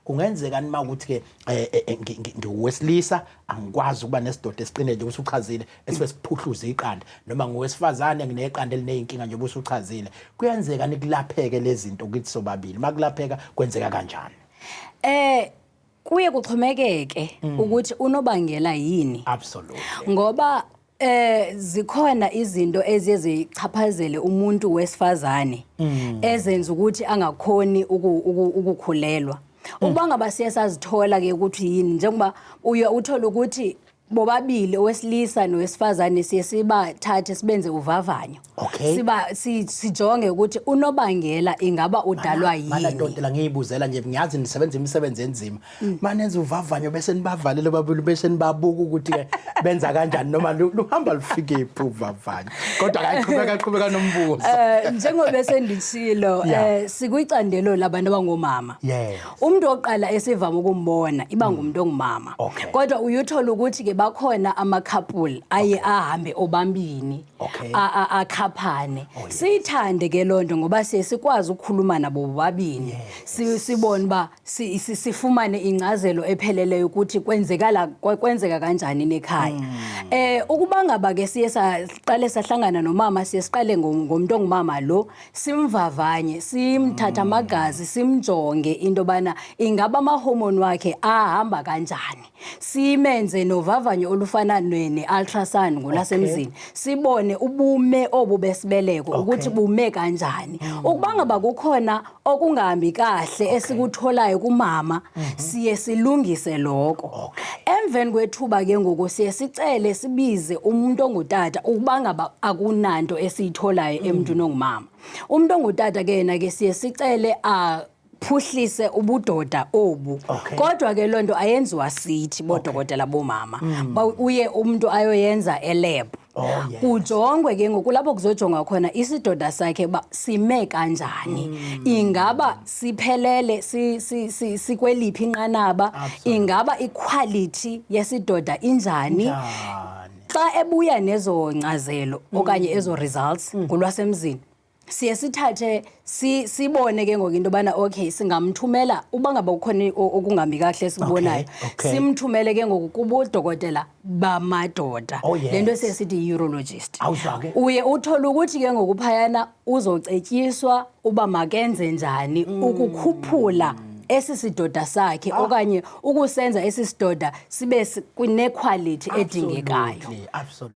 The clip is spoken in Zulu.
Kungenzeka nima ukuthi ke eh, eh, eh, ngiwesilisa angikwazi ukuba nesidoda esiqine nje usuchazile esibe siphuhluza iqanda noma ngowesifazane ngineqanda elinezinkinga nje usuchazile kuyenzeka nikulapheke lezinto ukuthi sobabili makulapheka kwenzeka kanjani eh kuye kuxhomekeke mm. ukuthi unobangela yini absolutely ngoba Eh zikhona izinto eziye zichaphazele umuntu wesifazane mm. ezenza ukuthi angakhoni ukukhulelwa. Mm. Uba ngaba siye sazithola ke ukuthi yini njengoba uye uthole ukuthi bobabili owesilisa nowesifazane siye sibathathe sibenze uvavanyo Okay. Siba si- sijonge ukuthi unobangela ingaba udalwa yini. manadodela ngiyibuzela nje ngiyazi nisebenza imisebenzi enzima Mm. manenza uvavanyo bese nibavalele babili bese nibabuka ukuthi ke benza kanjani noma lu- luhamba lufikephi uvavanyo kodwa kaqhubeka qhubeka nombuzo Eh njengoba sendishilo Yeah. eh sikwicandelo labantu abangomama. Yes. Mm. Umuntu oqala esivama ukumbona iba ngumuntu ongumama. Okay. Kodwa uyuthola ukuthi ke bakhona ama couple aye ahambe obambini. Okay. a- a- akhaphane Oh, yes. siyithande ke loo nto ngoba siye sikwazi ukukhuluma nabo bobabini Si- sibone uba si- si- sifumane ingcazelo epheleleyo ukuthi kwenzekala kwe- kwenzeka kanjani nekhaya Hmm. eh ukuba ngaba ke siye saqale sahlangana nomama siye siqale ngo- ngomntu ongumama lo simvavanye Hmm. simthatha amagazi simjonge into yobana ingaba amahomoni wakhe ahamba kanjani simenze novavanyo olufana ne- ne-ultrasound ngolasemzini sibone ubume obu besibeleko ukuthi bume kanjani ukuba ngaba kukhona okungahambi kahle esikutholayo kumama siye silungise loko emveni kwethuba ke ngoku siye sicele sibize umuntu ongutata ukuba ngaba akunanto esiyitholayo emntwini ongumama umuntu ongutata ke yena ke siye sicele a phuhlise ubudoda obu okay. kodwa ke lonto ayenziwa sithi bodokotela okay. bomama mm. uye umuntu ayoyenza elab Oh, yes. kujongwe ke ngoku lapho kuzojongwa khona isidoda sakhe uba sime kanjani mm. ingaba siphelele sikweliphi si, si, si inqanaba Absolutely. ingaba iquality yesidoda injani xa ebuya nezo nkcazelo mm. okanye ezo results mm. ngolwasemzini siye sithathe si, sibone ke ngoku into yobana okay singamthumela uba ngaba kukhona i- o- okungambi kahle esikubonayo Okay, okay. simthumele ke ngoku kubodokotela bamadoda Oh, yes. le nto esiye sithi yi-urologist Awuzwa ke. uye uthole ukuthi ke ngoku phayana uzocetyiswa uba makenze njani Mm. ukukhuphula esi sidoda sakhe Ah. okanye ukusenza esi sidoda sibe si- kwinekhwalithi edingekayo Absolutely, absolutely.